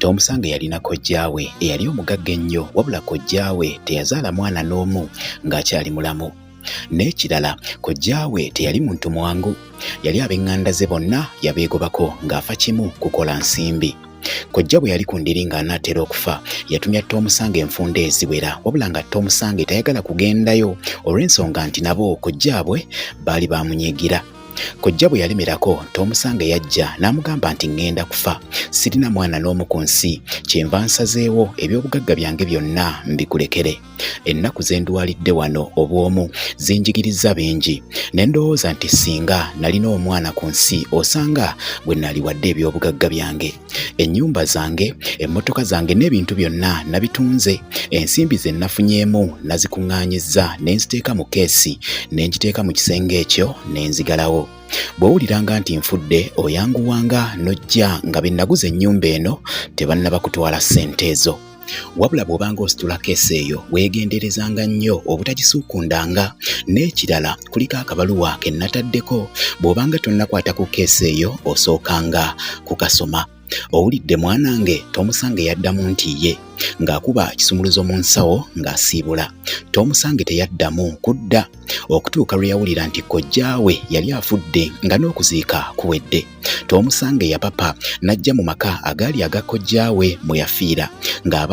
Tomusange yalina kojjaawe eyali omugagga ennyo wabula kojjaawe teyazaala mwana n'omu ng'akyali mulamu. N'ekirala kojjaawe teyali muntu mwangu, yali ab'eŋŋanda ze bonna yabeegobako ng'afa kimu kukola nsimbi. Kojja bwe yali ku ndiri ng'anaatera okufa, yatumya Tomusange enfunda eziwera wabula nga Tomusange tayagala kugendayo olw'ensonga nti nabo kojjaabwe baali baamunyiigira. Kojja bwe yalemerako Tomusanga yajja n'amugamba nti ŋŋenda kufa, sirina mwana n'omu ku nsi, kyenva nsazeewo eby'obugagga byange byonna mbikulekere. Ennaku ze ndwalidde wano obw'omu zinjigirizza bingi, ne ndowooza nti singa nalina omwana ku nsi osanga gwe naaliwadde eby'obugagga byange. ennyumba zange emmotoka zange n'ebintu byonna nabitunze ensimbi ze nafunyeemu nazikuŋŋaanyizza ne nziteeka mu keesi ne ngiteeka mu kisenge ekyo ne nzigalawo bw'owuliranga nti nfudde oyanguwanga n'ojja nga be naguza ennyumba eno tebannaba kutwala ssente ezo wabula bw'obanga ositula keesi eyo weegenderezanga nnyo obutagisuukundanga n'ekirala kuliko akabaluwa ke nnataddeko bw'obanga tonnakwata ku keesi eyo osookanga kukasoma owulidde mwanange tomusange yaddamu nti ye ng'akuba ekisumuluzo mu nsawo ng'asiibula tomusange teyaddamu kudda okutuuka lwe yawulira nti kojjaawe yali afudde nga n'okuziika kuwedde Toomusange yapapa n'ajja mu maka agaali aga kojjaawe mwe yafiira ng'aba